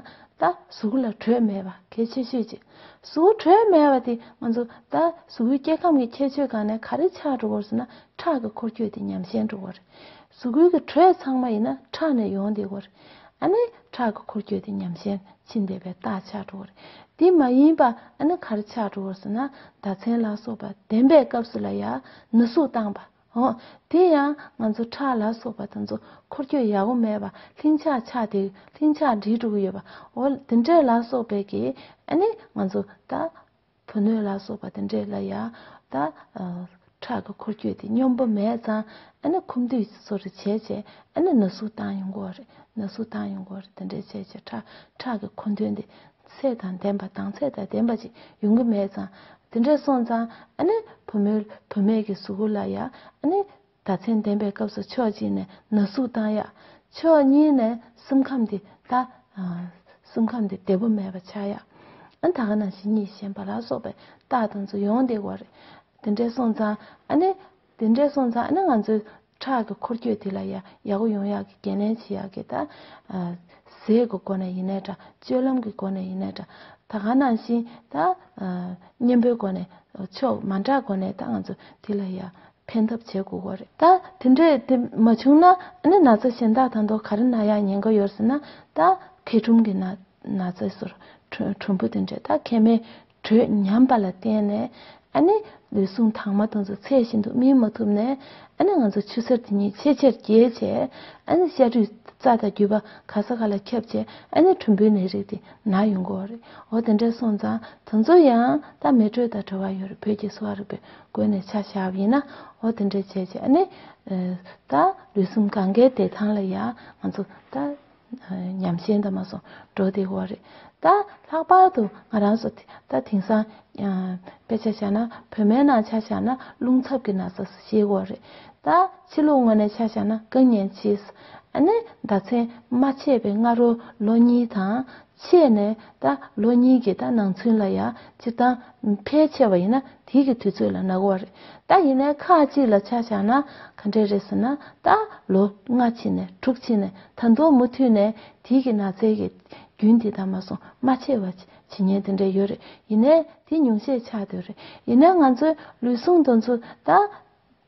ད་གཟུགས་ལ་དྲོད་མེད་པ་གལ་ཆེ་ཤོས་ཅིག་གཟུགས་དྲོད་མེད་པ་དེ་ང་ཚོ་ད་གཟུགས་སྐྱེ་ཁམས་ཀྱི་ཁྱད་ཆོས་གང་ནས་ག་རེ་ཆགས་འགྲོ་བར་ཟེར་ན་ཁྲག་གི་འཁོར་སྐྱོད་དེ་ཉམས་ཞན་འགྲོ་བ་རེད། གཟུགས་ཀུན་གྱི་དྲོད་ཚང་མ་ཡིན་ན་ཁྲག་ནས་ཡོང་བསྡད་དགོས་རེད། ཨ་ནི་ཁྲག་གི་འཁོར་སྐྱོད་དེ་ཉམས་ཞན་ཕྱིན་བསྡད་པའི་རྟགས་ཆགས་འགྲོ་བ་རེད། དེ་མ་ཡིན་པ་ཨ་ནི་ག་རེ་ཆགས་འགྲོ་བར་ཟེར་ན་ཟླ་མཚན་ལ་སོགས་པ་བདེན་པའི་སྐབས་སུ་ལ་ཡང་ན་ཟུག་བཏང་བ། ཨོ། དེ་ཡང་ང་ཚོ་ཁྲག་ལ་སོགས་པ་དང་ཚོ་འཁོར་སྐྱོད་ཡག་པོ་མེད་པར་ལྷིང་འཇགས་ཆགས་དེ་ལྷིང་འཇགས་འདྲིས་དྲུག་ཡོད་པ་འོ་དེ་འདྲས་ལ་སོགས་པའི་གི་ཨ་ནི་ང་ཚོ་ད། བུ་སྣོད་ལ་སོགས་པ་དེ་འདྲས་ལ་ཡ། ད། ཁྲག་གི་འཁོར་སྐྱོད་དེ་སྙོམས་པོ་མེད་ཙང་ཨ་ནི་ཁུམ་དུས་སོ་རེ་བྱས་བྱས་ཨ་ནི་ན་ཟུག་བཏང་ཡོང་གོ་རེ་ན་ཟུག་བཏང་ཡོང་གོ་རེ་དེ་འདྲས་བྱས་བྱས་ཁྲག་ཁྲག་གི་འཁོར་འདོན་དེ་ཚད་དང་ལྡན་པ་དང་ཚད་དང་ལྡན་པ་ཅིག་ཡོང་གི་མེད་ཙང། དེ་འདྲས་སོང་ཙང་ཨ་ནི་བུ་མོའི་བུད་མེད་ཀྱི་གཟུགས་སྐུ་ལ་ཡང་ཨ་ནི་ཟླ་མཚན་ལྡན་པའི་སྐབས་སུ་ཕྱོགས་གཅིག་ནས་ན་ཟུག་བཏང་ཡ། ཕྱོགས་གཉིས་ནས་སེམས་ཁམས་འདི་ལྟ། སེམས་ཁམས་འདི་བདེ་པོ་མེད་པ་ཆགས་ཡ། ཨ་ད་ག་ན་བྱེད་གཉིད་ཞན་པ་ལ་སོགས་པའི་རྟགས་དང་ཚུལ་ཡོང་བདེ་བ་རེད། དེ་འདྲས་སོང་ཙང་ཨ་ནི་དེ་འདྲས་སོང་ཙང་ཨ་ནི་ང་ཚོའི་ཁྲག་གི་འཁོར་སྐྱོད་དེ་ལ་ཡང་ཡག་པོ་ཡོང་ཡག་གི་འགན་ལེན་བྱེད་ཡག་གི་ད། ཟས་གི་སྒོ་ནས་ཡིན་ནའི་འདྲ་སྤྱོད་ལམ་གི་སྒོ་ནས་ཡིན་ནའི་འདྲ། ད་གང་ནང་བཞིན་ད། གཉེན་པོའི་སྒོ་ནས་ཆོག་མ་འདྲ་སྒོ་ནས་ད་ང་ཚོ་དེ་ལ་ཡང་ཕན་ཐབས་བྱེད་དགོས་གོ་རེད། ད་དེ་འདྲས་དེ་མ་བྱུང་ན་ཨ་ནི་ན་ཚ་གཞན་དག་དང་དོ་ག་རི་ན་ཡང་ཉན་གི་ཡོད་ཟེར་ན་ད། མཁལ་ཁྲུམ་གི་ན་ཚའི་སོར་ཁྲུམ་བུ་དེ་འདྲས་ད་མཁལ་མའི་དྲོད་ཉམས་པ་ལ་བརྟེན་ནས་ཨ་ནི་ལུས་ཟུངས་དྭངས་མ་དང་ཚོ་ཚད་བཞིན་དུ་སྨིན་མ་ཐུབ་ནས་ཨ་ནི་ང་ཚོ་ཆུ་གསར་དེ་ཉིད་ཆེས་ཆེར་རྒྱས་རྗེས་ཨ་ནི་ཤ་དྲུད་རྩ་དང་རྒྱུས་པ་ག་ས་ག་ལ་ཁྱབ་རྗེས་ཨ་ནི་གྲུམ་བུའི་ནད་རིགས་དེ་ན་ཡོང་གི་རེད་འོ་དེ་འདྲ་སོང་ཙང་དེ་ཚོ་ཡང་དག་མེད་དྲོད་དང་བྲོ་བ་ཡོད་རེད་བོད་ཀྱི་གསོ་བ་རིག་པའི་སྒོ་ནས་ཆ་བཞག་པ་ཡིན་ན་འོ་དེ་འདྲ་བྱས་རྗེས་ཨ་ནི་ད་ལུས་ཟུངས་གང་གཱའི་བདེ་ཐང་ལ་ཡང་ང་ཚོ་ད། ཉམས་ཞན་དང་མ་སོང་འགྲོ་དེ་འོ་རེད་ད། ལྷག་པར་དུ་ང་རང་ཚོ་ད་དེང་སང་དཔེ་ཆ་བཞག་ན་བོད་མའི་ནང་ཆ་བཞག་ན་རླུང་འཚབ་ཀྱི་ན་ཚ་ཞེས་འོ་རེད་ད། ཕྱི་ལུགས་ངོས་ནས་ཆ་བཞག་ན་དཀའ་ངལ་ཆེ། ཨ་ནི་ཟླ་མཚན་མ་ཆད་པའི་སྔ་རོལ་ལོ་གཉིས་དང། ཆད་ནས་ད་ལོ་གཉིས་ཀྱི་ད་ནང་ཚུན་ལ་ཡང་སྤྱིར་བཏང་ཕལ་ཆེ་བ་ཡིན་ན་དེའི་གི་དུས་ཚོད་ལ་ནག་བ་རེད་ད་ཡིན་ནའི་ཁག་ཅིག་ལ་ཆ་བཞག་ན་ག་འདྲས་རེད་ཟེར་ན་ད་ལོ་སྔ་ཕྱི་ནས་དྲུག་ཕྱི་ནས་ད་མདོ་མུ་མཐུད་ནས་དེའི་གི་ནག་ཚལ་གི་རྒྱུན་དེ་ད་མ་སོང་མ་ཆེ་བ་ཇི་ཉན་དེ་འདྲས་ཡོད་རེད་ཡིན་ནའི་དེ་ཉུང་ཤས་ཆགས་དུས་རེད་ཡིན་ནའི་ང་ཚོའི་ལུས་ཟུངས་དང་ཚུ་ད་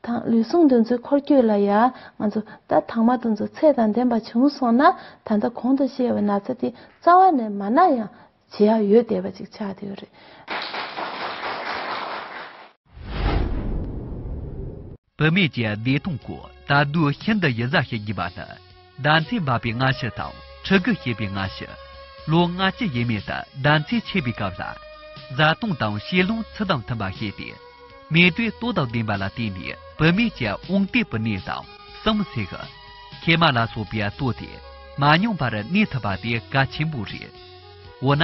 དང་ལུས་ཟུངས་འདོན་ཚུལ་འཁོར་སྐྱོད་ལ་ཡང་ང་ཚོ་ད་དང་མ་དང་ཚོ་ཚད་དང་ལྡན་པ་བྱུང་སོང་ན་ད་ལྟ་གོང་དུ་བཤད་བའི་ན་ཚ་དེ་རྩ་བ་ནས་མ་ན་ཡང་བྱེད་ཡག་ཡོད་བསྡད་པ་ཅིག་ཆགས་བསྡད་ཡོད་རེད། བུད་མེད་ཀྱི་བདེ་སྟོང་སྐོར་ད་དུས་ཤིན་ཏུ་ཡི་གཟའ་བྱེད་དགོས་པ་ལ། ཟླ་མཚན་འབབ་པའི་སྔ་ཕྱི་དང་ཕྲུ་གུ་སྐྱེས་པའི་སྔ་ཕྱི། ལོ་ལྔ་སྤྱི་ཡས་མས་དང་ཟླ་མཚན་ཆད་པའི་སྐབས་ལ། བཟའ་བཏུང་དང་བཤས་ལོངས་ཚུལ་དང་མཐུན་པར་བཤད་དེ། མེ་དུའི་ལྟོ་དང་ལྡན་པ་ལ་བརྟེན་ནས་བུད་མེད་ཀྱི་དབང་སྟེགས་པུ་ནས་དང་གསུམ་བསྲེག། ཁལ་མ་ལ་སོགས་པའི་ལྟོ་དེ་མ་མྱོང་པར་གནས་ཐུབ་པ་དེ་གལ་ཆེན་པོ་རེད། འོ་ན།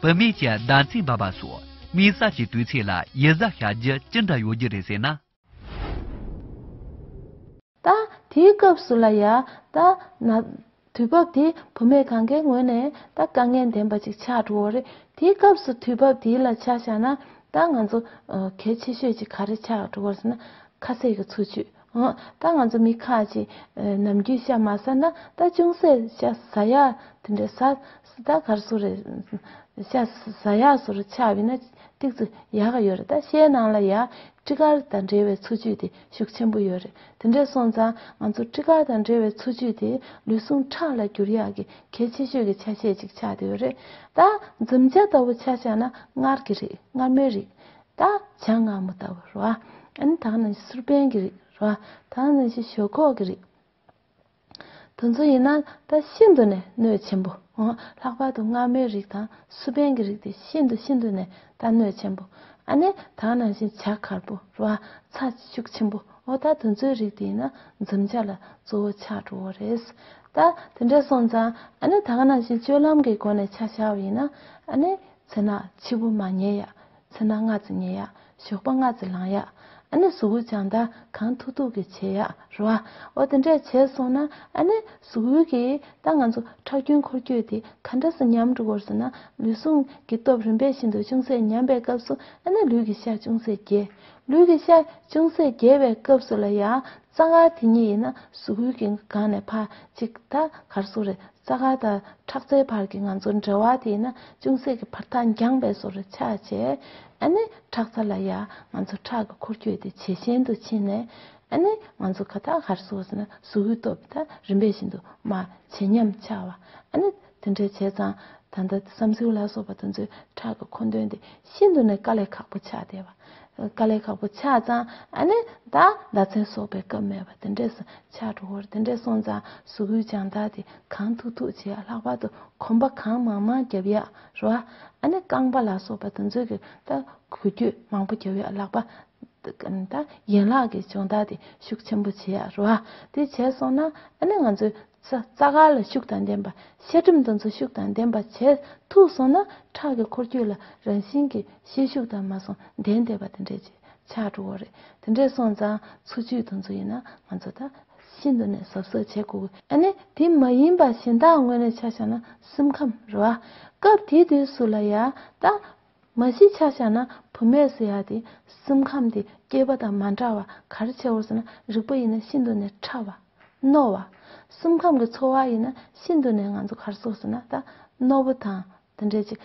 བུད་མེད་ཀྱི་ཟླ་མཚན་འབབ་པ་སོགས་དམིགས་བསལ་གྱི་དུས་ཚེས་ལ་ཡིད་གཟབ་བྱ་རྒྱུ་ཅི་འདྲ་ཡོད་རྒྱུ་རེད་ཟེར་ན། ད་དེའི་སྐབས་སུ་ལ་ཡ་ད་ན། དུས་བབ་དེ་བུ་མེད་གང་གཱའི་ངོས་ནས་ད་དཀའ་ངལ་ལྡན་པ་ཅིག་ཆགས་འགྲོ་བ་རེད་དེའི་སྐབས་སུ་དུས་བབ་དེའི་ལ་ཆ་བཞག་ན་ད་ང་ཚོ་གལ་ཆེ་ཤོས་ཅིག་ག་རེ་ཆགས་འགྲོ་བར་ཟེར་ན། ཁ་ཟས་ཀྱི་འཚོ་བཅུད། ད་ང་ཚོ་མི་ཁ་ཅིག་ནམ་རྒྱུན་ཤ་མ་ཟ་ན་ད་ཅུང་ཟད་ཤ་ཟ་ཡ་དེ་འདྲ་ཟ། སུ་ད་གར་སུ་རེད། ཤ་ཟ་ཡག་སུ་རུ་ཆགས་བི་ན་ཏིག་སུ་ཡག་ཡོད་རེད་ད་ཤའི་ནང་ལ་ཡག་སྤྲི་དཀར་དང་འབྲེལ་བའི་འཚོ་བཅུད་དེ་ཤུགས་ཆེན་པོ་ཡོད་རེད་དེ་འདྲས་སོང་ཙང་ང་ཚོ་སྤྲི་དཀར་དང་འབྲེལ་བའི་འཚོ་བཅུད་དེ་ལུས་ཟུངས་ཁྲག་ལ་འགྱུར་ཡག་གི་གལ་ཆེ་ཤོས་ཀྱི་ཆ་ཤས་ཅིག་ཆགས་བསྡད་ཡོད་རེད་ད། འཛུམ་བྱ་ལྟ་བུ་ཆ་ཆགས་ན་མངར་གི་རེད་མངར་མོའི་རིགས་ད་བྱ་ངར་མོ་ལྟ་བུ་རེད་ཨ་ནི་ད་ནང་བཞིན་སུར་པན་གྱི་རིགས་རེད་ད་ནང་བཞིན་ཞོག་ཁོག་གི་རིགས་དུ་འཛུལ་ཡིན་ན་ད་ཤིན་ཏུ་ནས་གནོད་ཆེན་པོ། ལྷག་པར་དུ་སྔ་མོའི་རིགས་དང་སུ་པན་གྱི་རིགས་དེ་ཤིན་ཏུ་ཤིན་ཏུ་ནས་ད་གནོད་ཆེན་པོ། ཨ་ནེ་དག་ནང་བཞིན་བྱ་གར་པོ་རུ་བ་ཚ་ཤུགས་ཆེན་པོ་འོ་ད་དུ་འཛུལ་རིགས་དེ་ཡིན་ན་འཛུམ་བྱ་ལ་གཙོ་བོ་ཆགས་འགྲོ་བོ་རེད། ད་དེ་འདྲས་སོང་ཙང་ཨ་ནེ་དག་ནང་བཞིན་སྤྱོད་ལམ་གྱི་སྒོ་ནས་ཆ་བཞག་བ་ཡིན་ན་ཨ་ནེ་ཚེ་ནག་འཆི་བོ་མ་ཉེས་ཡག་ཚེ་ན་སྔ་ཙི་ཉལ་ཡ། ཞོགས་པ་སྔ་ཙི་ལངས་ཡ། ཨ་ནི་གཟུགས་འུར་ཀྱང་ད་གང་ཐུག་ཐུག་གི་བྱེད་ཡ་རུ་ཨ། འོ་དེ་འདྲས་བྱས་སོང་ན་ཨ་ནི་གཟུགས་འུར་གི། ད་ང་ཚོ་ཁྲག་རྒྱུན་འཁོར་སྐྱོད་དེ་ག་འདྲ་སུ་ཉམས་འགྲོ་གོར་སོང་ན་ལུས་ཟུངས་ཀྱི་སྟོབས་རིམ་པས་ཤིན་ཏུ་ཅུང་ཟད་ཉམས་པའི་སྐབས་སུ་ཨ་ནི་ལུས་ཀྱི་ཤ་ཅུང་ཟད་རྒྱས། ལུས་ཀྱི་ཤ་ཅུང་ཟད་རྒྱས་པའི་སྐབས་སུ་ལ་ཡ། རྩ་འགག་དེ་གཉིས་ཡིན་ན་གཟུགས་འུར་གྱི་སྒང་ནས་ཕ་གཅིག་ད་གར་སོང་རེད། རྩ་དགའ་དང་ཁྲག་རྩའི་བར་གྱི་ང་ཚོ་འབྲེལ་བ་དེས་ན་ཅུང་ཟད་ཀྱི་བར་ཐག་འགྱངས་པས་སོར་ཆ་བྱས། ཨ་ནི་ཁྲག་རྩ་ལ་ཡ། ང་ཚོ་ཁྲག་གི་འཁོར་སྐྱོད་དེ་ཇེ་ཞན་དུ་ཕྱིན་ནས། ཨ་ནི་ང་ཚོ་ཁ་ཐག་ཧར་སོ་ཟིན་ན་ཟུག་ཡུལ་སྟོབས་དང་རིམ་པས་ཤིན་ཏུ་དམའ། ཇེ་ཉམས་ཆག་བ། ཨ་ནི་དེ་འདྲའི་བྱས་ཙང། ད་ལྟ་བསམ་སེའུ་ལ་སོགས་པ་དེ་ཚོའི་ཁྲག་གི་མཁོ་འདོན་དེ་ཤིན་ཏུ་ནས་དཀའ་ལས་ཁག་པོ་ཆགས་བསྡད་པ། དཀའ་ལས་ཁག་པོ་ཆགས་ཙང་ཨ་ནི་ད་ཟླ་མཚན་གསོག་པའི་སྐབས་མེད་པ་དེ་འདྲས་སུ་ཆགས་འགྲོ་བར་དེ་འདྲས་སོང་ཙང་གཟུགས་པོའི་སྦྱང་བརྡར་དེ་གང་ཐུག་ཐུག་བྱས་ལྷག་པར་དུ་གོམ་པ་གང་མང་མང་རྒྱབ་ཡག་རོ། ཨ་ནི་རྐང་པ་ལ་སོགས་པ་དུ་མཛོད་ཀྱི་ད་གུ་རྒྱུད་མང་པོ་རྒྱབ་ཡག་ལག་པ། ད་ཡན་ལག་གི་སྦྱོང་བརྡར་དེ་ཤུགས་ཆེན་པོ་བྱས་ཡག་རོ། དེ་བྱས་སོང་ན་ཨ་ནི་ང་ཚོའི་ས་རྩ་ག་ལ་ཤུགས་དང་ལྡན་པ་ཤ་གྲིམ་དུ་འཚོ་ཤུགས་དང་ལྡན་པ་བྱས་ཐུག་སོང་ན་ཁྲག་གི་འཁོར་རྒྱུག་ལ་རང་བཞིན་གྱིས་ཤེད་ཤུགས་དང་མ་སོང་ལྡན་དེ་བ་དེ་འདྲས་ཀྱིས་ཆགས་འགྲོ་བོ་རེད་དེ་འདྲས་སོང་ཙང་འཚོ་བཅུད་དུ་འཚོ་ཡིན་ན་ང་ཚོ་ད་ཤིན་ཏུ་ནས་ཟབ་ཟོབ་བྱེད་དགོས་གི་ཨ་ནི་དེ་མ་ཡིན་པ་གཞན་དག་དངོས་གནས་ཆ་བཞག་ན་སེམས་ཁམས་རེད་བ། སྐབས་དེའི་དུས་སུ་ལ་ཡ་ད། མ་གཞི་ཆ་བཞག་ན་བུད་མེད་ཟེར་ཡག་དེ་སེམས་ཁམས་དེ་སྐྱེས་པ་དང་མ་འདྲ་བ་ག་རེ་ཆེ་བོར་ཟེར་ན་རིག་པ་ཡིན་ན་ཤིན་ཏུ་ནས་ཕྲ་བ། རྣོ་བ། སེམས་ཁམས་ཀྱི་འཚོ་བ་ཡིན་ན་ཤིན་ཏུ་ནས་ང་ཚོ་གར་སོགས་ཟེར་ན་ད་རྣོ་པོ་དང་དེ་འདྲ་ཅིག་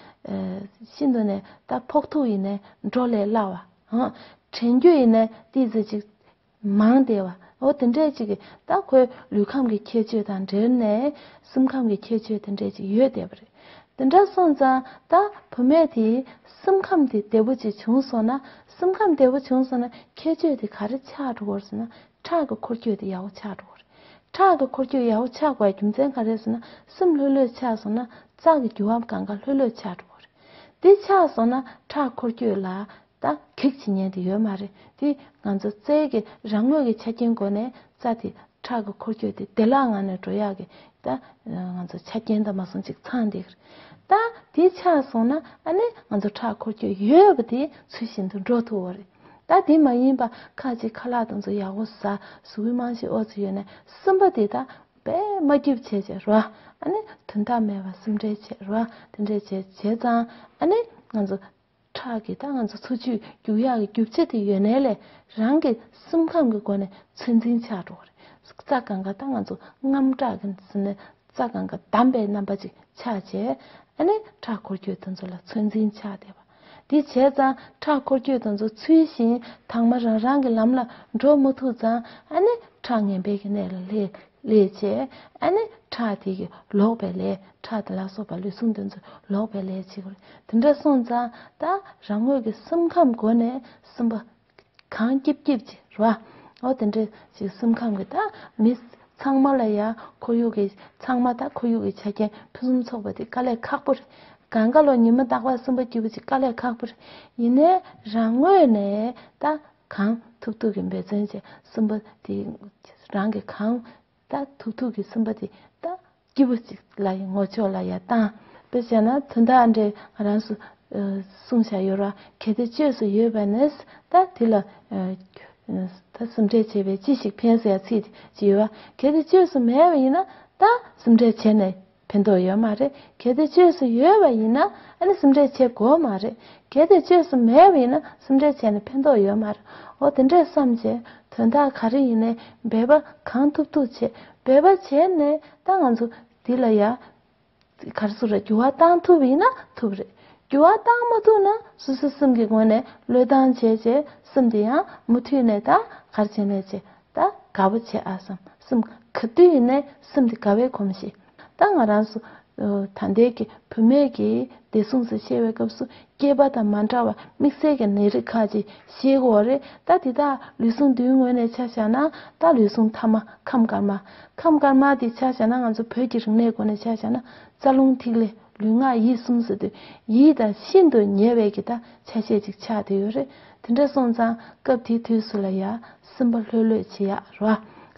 ཤིན་ཏུ་ནས་ད་ཕོག་ཐུག་ཡིན་ནས་འགྲོ་ལས་སླ་བ། དྲན་རྒྱུ་ཡིན་ནས་ཏི་ཟེར་ཅིག་མང་སྟེ། འོ་དེ་འདྲས་ཅིག་ད་ཁོའི་ལུས་ཁམས་ཀྱི་ཁྱད་ཆོས་དང་འབྲེལ་ནས་སེམས་ཁམས་ཀྱི་ཁྱད་ཆོས་དེ་འདྲས་ཅིག་ཡོད་བསྡད་པ་རེད། དེ་འདྲ་སོང་ཙང་ད་བུ་མེད་དེ་སེམས་ཁམས་དེ་བདེ་བོ་ཅིག་བྱུང་སོང་ན་སེམས་ཁམས་བདེ་བོ་བྱུང་སོང་ན་ཁྱད་ཆོས་དེ་ག་རེ་ཆགས་འགྲོ་གོ་ཟེར་ན་ཁྲག་གི་འཁོར་སྐྱོད་དེ་ཡག་བོ་ཆགས་འགྲོ་གོ་རེད། ཁྲག་གི་འཁོར་སྐྱོད་ཡག་བོ་ཆགས་པའི་རྒྱུ་མཚན་ག་རེ་ཟེར་ན་སེམས་ལྷོད་ལྷོད་ཆགས་སོང་ན་རྩག་གི་རྒྱུ་བ་གང་ག་ལྷོད་ལྷོད་ཆགས་འགྲོ་གོ་རེད། དེ་ཆགས་སོང་ན་ཁྲག་འཁོར་སྐྱོད་ལ་ད་གེགས་བྱེད་ཉན་དེ་ཡོད་མ་རེད་དེ་ང་ཚོ་རྩལ་གྱི་རང་ངོས་ཀྱི་ཆ་རྐྱེན་སྒོ་ནས་རྩ་དེ་ཁྲག་གི་འཁོར་སྐྱོད་དེ་བདེ་བླག་ངང་ནས་འགྲོ་ཡག་གི་ད་ང་ཚོ་ཆ་རྐྱེན་དང་མ་སོང་ཅིག་ཚང་འདི་གི་རེད་ད་དེ་ཆགས་སོང་ན་ཨ་ནི་ང་ཚོ་ཁྲག་འཁོར་སྐྱོད་ཡོད་པ་དེ་ཚུལ་བཞིན་དུ་འགྲོ་ཐུབ་བོ་རེད་ད་དེ་མ་ཡིན་པ་ཁ་ཅིག་ཁ་ལག་དང་ཚོ་ཡག་པོ་ཟ་ཟུག་གི་རྨང་གཞི་ཨོ་ཚོ་ཡོད་ནས་སུན་པ་དེ་ད་བས་མ་རྒྱུབ་བྱས་བྱས་རོ་ཨ་ནི་དོན་དག་མེད་པ་སུམ་འབྲེལ་བྱས་རོ་དེ་འདྲས་བྱས་བྱས་ཙང་ཨ་ནི་ང་ཚོ་ཁྲག་གི་རྟགས་ང་ཚོ་འཚོ་བཅུད་རྒྱུག་ཡག་གི་རྒྱུ་བྱེད་དེ་ཡོད་ནའི་ལས་རང་གི་སེམས་ཁམས་ཀྱི་སྒོ་ནས་ཚོད་འཛིན་བྱ་འགྲོ་བ་རེད། རྩ་གང་ག་རྟགས་ང་ཚོ་རྔམ་དྲག་གི་ཟིན་ནས་རྩ་གང་ག་བསྡམས་པའི་རྣམ་པ་ཅིག་ཆགས་རྗེས་ཨ་ནི་ཁྲག་འཁོར་སྐྱོད་དེ་ཚོ་ལ་ཚོད་འཛིན་བྱ་བདེ་བ། དེ་བྱས་ཙང་ཁྲག་འཁོར་སྐྱོད་དེ་ཚོ་ཚུལ་བཞིན་དྭངས་མ་རང་རང་གི་ལམ་ལ་འགྲོ་མ་ཐུབ་ཙང་ཨ་ནི་ཁྲག་ངན་པའི་གནས་ལ་ལྷས་ལས་བྱེད་ཨ་ནི་ཁྲག་དེ་གི་ལོག་པའི་ལས་ཁྲག་དེ་ལ་སོགས་པ་ལུས་ཟུངས་འདི་ཚོའི་ལོག་པའི་ལས་བྱེད་དགོས་རེད་དེ་འདྲ་སོང་ཙང་ད་རང་ངོས་ཀྱི་སེམས་ཁམས་སྒོ་ནས་སེམས་པ་གང་སྐྱིབ་སྐྱིབ་ཅིག་རེད་བ་འོ་དེ་འདྲ་ཞིག་སེམས་ཁམས་ཀྱི་ད་མི་ཚང་མ་ལ་ཡང་ཁོར་ཡུག་གི་ཚང་མ་ད་ཁོར་ཡུག་གི་ཆ་རྐྱེན་ཕུན་སུམ་ཚོགས་པ་དེ་དཀའ་ལས་ཁག་པོ་རེད་གངས་ཀ་ལོ་ཉི་མ་རྟག་པར་སེམས་པ་སྐྱིད་པོ་ཅིག་དཀའ་ལས་ཁག་པོ་རེད་ཡིན་ནའི་རང་ངོས་ནས་ད་གང་ཐུབ་ཐུབ་ཀྱིས་འབད་བརྩོན་བྱས་གསུམ་པ་དེ། རང་གིས་གང་ལྟར་ཐུབ་ཐུབ་ཀྱིས་གསུམ་པ་དེ་ལྟ། སྐྱིད་པོ་གཅིག་ལ་ཡི་ངོ་ཆོས་ལ་ཡ་བཏང། དཔེར་བྱས་ན་དོན་དག་འདྲེ་ང་རང་སུ། གསུང་བྱ་ཡོད་ར་གལ་ཏེ་བཅོས་སུ་ཡོད་པ་ནས་ཟ་ད་དེ་ལ། ད་སུ་འདྲེ་བྱས་པས་ཅི་ཞིག་ཕན་ཟེར་ཡ་ཚིག་ཅིག་ཡོད་ར་གལ་ཏེ་བཅོས་སུ་མེད་པ་ཡིན་ན། ད་སུ་འདྲེ་བྱས་ནས་ཕན་ཐོགས་ཡོད་མ་རེད་གལ་ཏེ་བཅོས་སུ་ཡོད་པ་ཡིན་ན་སིམ་འདྲེས་བྱེད་དགོས་མ་རེད་གལ་ཏེ་བཅོས་སུ་མེད་པ་ཡིན་ན་སིམ་འདྲེས་བྱས་ནས་ཕན་ཐོགས་ཡོད་མ་རེད་འོ་དེ་འདྲས་བསམ་བྱས་དོན་དག་ག་རེ་ཡིན་ནས་འབད་པ་གང་ཐུབ་ཐུབ་བྱས་འབད་པ་བྱས་ནས་ད་ང་ཚོ་འདི་ལ་ཡར་གར་སུ་རེད་འགྱུར་བ་བཏང་ཐུབ་ཡིན་ན་ཐུབ་རེད་འགྱུར་བ་བཏང་མ་ཐུབ་ན་སུ་སུ་སིམ་གྱི་ངོས་ནས་བློས་བཏང་བྱས་བྱས་སིམ་དེ་ཡང་མུ་མཐུད་ནས་ད་གར་བྱས་ནས་བྱས་ད་དགའ་བོ་བྱེད་ཨ་བསམ་སེམས། ག་དུས་ཡིན་ནའི་སེམས་དེ་དགའ་བས་གོམས་ཤིག། ད་ང་རང་སུ། ད་ལྡན་གྱི་བུད་མེད་ཀྱིས་བདེ་སྲུང་སེ་བཤད་བའི་སྐབས་སུ་སྐྱེས་པ་དང་མ་འདྲ་བར་དམིགས་བསལ་གྱི་ནད་རིགས་ཁག་ཅིག་ཤེས་དགོས་བ་རེད་ད་དེ་དག་ལུས་ཟུངས་བདུན་ངོས་ནས་ཆ་བཞག་ན་ད་ལུས་ཟུངས་མཐའ་མ་ཁམས་དཀར་དམར། ཁམས་དཀར་དམར་དེ་ཆ་བཞག་ན་ང་ཚོ་བོད་ཀྱི་རིག་གནས་སྒོ་ནས་ཆ་བཞག་ན་རྩ་རླུང་ཐིག་ལེ་ལུས་ངག་ཡིད་གསུམ་ཟེར་དུས་ཡིད་དང་ཤིན་ཏུ་ཉེ་བའི་གི་ད་ཆ་ཤས་ཅིག་ཆགས་དེ་ཡོད་རེད་དེ་འདྲ་སོང་ཙང་སྐབས་དེའི་དུས་སུ་ལ་ཡ་སེམས་པ་ལྷོད་ལྷོད་བྱེད་ཡ་རོ།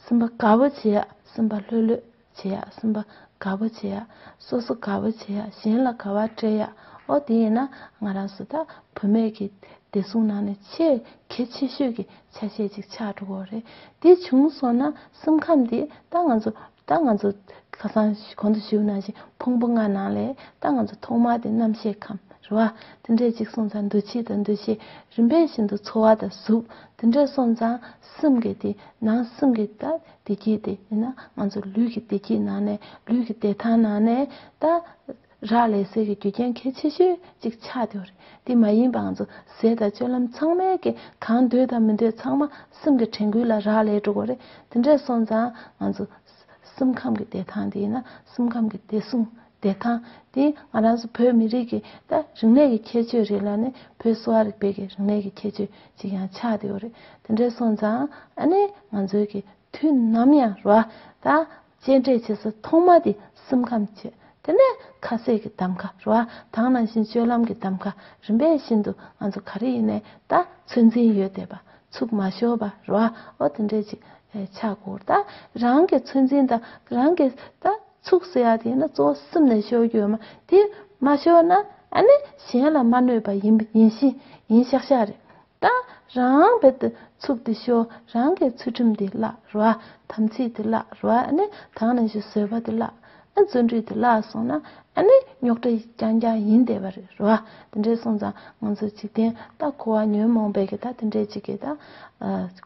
སེམས་པ་དགའ་བོ་བྱེད་ཡ་སེམས་པ་ལྷོད་ལྷོད་བྱེད་ཡ་སེམས་པ་དགའ་བོ་བྱེད་ཡ། སོ་སོ་དགའ་བོ་བྱེད་ཡ་གཞན་ལ་དགའ་བ་སྤྲད་ཡ་ཨོ་དེ་ཡིན་ན་ང་རང་སུ་དག་བུད་མེད་ཀྱི་བདེ་སྲུང་ནང་ནས་ཆེས་གལ་ཆེ་ཤོས་ཀྱི་ཆ་ཤས་ཅིག་ཆགས་འགྲོ་གི་རེད་དེ་བྱུང་སོང་ན་སེམས་ཁམས་འདི་ད་ང་ཚོ་ད་ང་ཚོ་ཁ་སང་གོང་དུ་ཞུས་ནང་བཞིན་ཕུང་པོ་ལྔ་ནང་ལས་ད་ང་ཚོ་ཐོག་མར་དེ་རྣམ་ཤེས་ཁམས་རེད་བ། དེ་འདྲས་གཅིག་སོང་ཙང་འདུ་བྱེད་དང་འདུ་ཤེས་རིམ་པས་ཤིན་ཏུ་འཚོ་བ་དང་གཟུགས་དེ་འདྲས་སོང་ཙང་སེམས་ཀྱི་དེ་ནང་སེམས་ཀྱི་ད་བདེ་སྐྱིད་དེ་ཡིན་ན་ང་ཚོ་ལུས་ཀྱི་བདེ་སྐྱིད་ནང་ནས་ལུས་ཀྱི་བདེ་ཐང་ནང་ནས་ད། རག་ལས་ཟས་ཀྱི་རྒྱུ་རྐྱེན་གལ་ཆེ་ཤོས་གཅིག་ཆགས་ཀྱི་རེད་དེ་མ་ཡིན་པའང་ཚོ་ཟས་དང་སྤྱོད་ལམ་ཚང་མའི་གི་གང་འདོད་དང་མི་འདོད་ཚང་མ་སེམས་ཀྱི་དྲན་སྐུལ་ལ་རག་ལས་འགྲོ་གི་རེད་དེ་འདྲས་སོང་ཙང་ང་ཚོ་སེམས་ཁམས་ཀྱི་བདེ་ཐང་དེ་ཡིན་ན་སེམས་ཁམས་ཀྱི་བདེ་སྲུང་བདེ་ཐང་དེ་ང་རང་ཚོ་བོད་མི་རིགས་ཀྱི་ད་རིག་གནས་ཀྱི་ཁྱད་ཆོས་རེད་ལ་ནི་བོད་གསོ་བ་རིག་པའི་གི་རིག་གནས་ཀྱི་ཁྱད་ཆོས་གཅིག་ཡང་ཆགས་ཀྱི་རེད་དེ་འདྲས་སོང་ཙང་ཨ་ནི་ང་ཚོའི་གི་དུས་ནམ་ཡང་རོ་ད་སྤྱན་འདྲེན་བྱེད་ས་ཐོག་མ་དེ་སེམས་ཁམས་བྱེད། དེ་ནས་ཁ་ཟས་ཀྱི་གདམ་ག་རུ་ཨ་ཐང་ནང་བཞིན་སྤྱོད་ལམ་གྱི་གདམ་ག་རིམ་པས་བཞིན་དུ་ང་ཚོ་ག་རེ་ཡིན་ནའི་ད་ཚོད་འཛིན་ཡོད་བལྟས་པ་ཚུགས་མ་ཤོར་བ་རུ་ཨ་ཨོ་དེ་འདྲས་ཅིག་ཆགས་དགོས་ད་རང་གི་ཚོད་འཛིན་ད་རང་གི་ད་ཚུགས་ཟེར་ཡ་དེ་ཡིན་ན་གཙོ་བོ་སེམས་ནས་ཤོར་རྒྱུ་ཡོད་མ་དེ་མ་ཤོར་ན་ཨ་ནི་གཞན་ལ་མ་གནོད་པ་ཡིན་ཡིན་ཤིང་ཡིན་ཤག་ཤག་རེད་ད་རང་བལ་དུ་ཚུགས་ཏེ་ཤོག་རང་གི་ཚུལ་ཁྲིམས་དེ་བརླག་རོ། དམ་ཚིག་དེ་བརླག་རོ། དང་ནང་བཞིན་བཟོད་པ་དེ་བརླག། བརྩོན་འགྲུས་དེ་བརླག་སོང་ན། རྙོག་དྲ་རྐྱང་རྐྱང་ཡིན་བསྡད་པ་རེད་རོ། དེ་འདྲས་སོང་ཙང་ང་ཚོ་འཇིག་རྟེན་ད་འཁོར་བ་ཉོན་མོངས་པའི་གེ་ད་དེ་འདྲས་ཅིག་གིས་ད་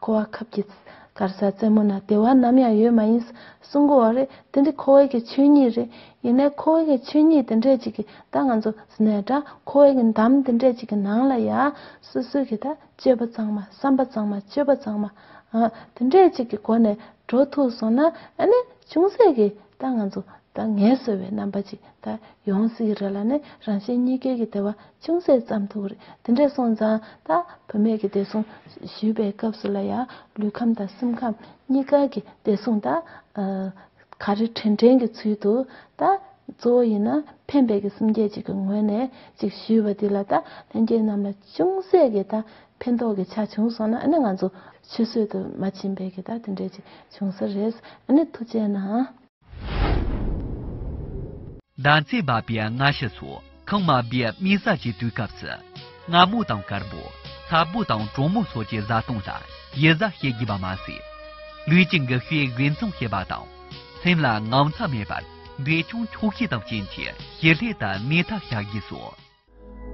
འཁོར་བ་ཁབ་ཀྱི་དཀར་ས་རྩེ་མོ་ན་བདེ་བ་ནམ་ཡང་ཡོད་མ་ཡིན། གསུང་གོ་བ་རེད་དེ་འདྲས་འཁོར་བའི་གེ་ཆོས་ཉིད་རེད། ཡིན་ནའི་ཁོ་བོའི་ཆོས་ཉིད་དེ་འདྲས་ཅིག་གི་ད་ང་ཚོ་ཟནས་དྲ་ཁོ་བོའི་གི་འདམ་དེ་འདྲས་ཅིག་གི་ནང་ལ་ཡ། སོ་སོའི་གི་ད་སྤྱོད་པ་ཚང་མ་བསམ་པ་ཚང་མ་སྤྱོད་པ་ཚང་མ། ཨ། དེ་འདྲས་ཅིག་གི་སྒོ་ནས་འགྲོ་ཐུབ་སོང་ན་ཨ་ནི་ཅུང་ཟད་གི་ད་ང་ཚོ་ད་ངལ་གསོ་བའི་རྣམ་པ་ཅིག་ད་ཡོང་སྲིད་གི་རེད་ལ་ནི་རང་གཞན་གཉིས་ཀའི་གི་དེ་བ་ཅུང་ཟད་བརྩམས་ཐུབ་རེད་དེ་འདྲས་སོང་ཙང་ད་བུད་མེད་གི་བདེ་སྲུང་ཞུས་པའི་སྐབས་སུ་ལ་ཡ། ལུས་ཁམས་དང་སེམས་ཁམས་གཉིས་ཀ་གི་བདེ་སྲུང་ད། ག་རེ་དྲིན་དྲན་གྱི་ཚུལ་དུ་ད་གཙོ་བོ་ཡིན་ན་ཕན་བདེ་གི་སེམས་བསྐྱེད་ཅིག་གི་ངོས་ནས་ཅིག་ཞུས་པ་འདི་ལ་ད་ལྷན་རྒྱས་རྣམས་ལ་ཅུང་ཟད་ཀྱི་ད་ཕན་ཐོགས་ཀྱི་ཆ་བྱུང་སོང་ན་ཨ་ནི་ང་ཚོ་ཆུད་ཟོས་དུ་མ་ཕྱིན་པས་ཀྱི་ད་དེ་འདྲས་ཅིག་བྱུང་ས་རེད་ཨ་ནི་ཐུགས་བཅད་ན། བདག་བརྩེ་བ་པའི་མངའ་བཞི་སོགས། ཁང་མ་སྦས་སྨིན་ས་ཆེ་དུས་སྐབས་སུ། རྔ་མོང་དང་དཀར་པོ། ཚ་པོ་དང་གྲོ་མོ་སོགས་ཀྱི་བཟའ་བཏུང་ལ་ཡི་བཟའ་བྱེད་དགོས་པ་མ་ཟད། ལུས་ཀྱི་འགུལ་ཤུགས་དགེ་མཚམས་ཤེས་པ་དང། སེམས་ལ་དངངས་འཚབ་མེད་པར་འབྲས་ཆུང་འཁྱུག་ཤས་དང་བྱིན་གྱིས་བྱེར་སླད་དུ་སྣེ་ཐག་བྱ་དགོས་སོ།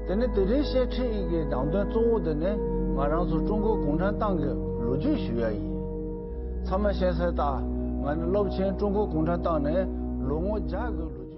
དེ་ནི་དེ་རིང་བཤད་ཁྲིད་ཡིག་གི་ནང་དོན་གཙོ་བོ་དེ་ནི་ང་རང་ཚོ་ཀྲུང་གོ་གུང་ཁྲན་ཏང་གི་ལོ་རྒྱུས་ཞུ་ཡ་ཡིན། ཚང་མས་ཤེས་གསལ་ལྟར་ང་ནི་སློབ་ཆེན་ཀྲུང་གོ་གུང་ཁྲན་ཏང་ནས་ལོ་ངོ་བརྒྱ་གི་ལོ་རྒྱུས།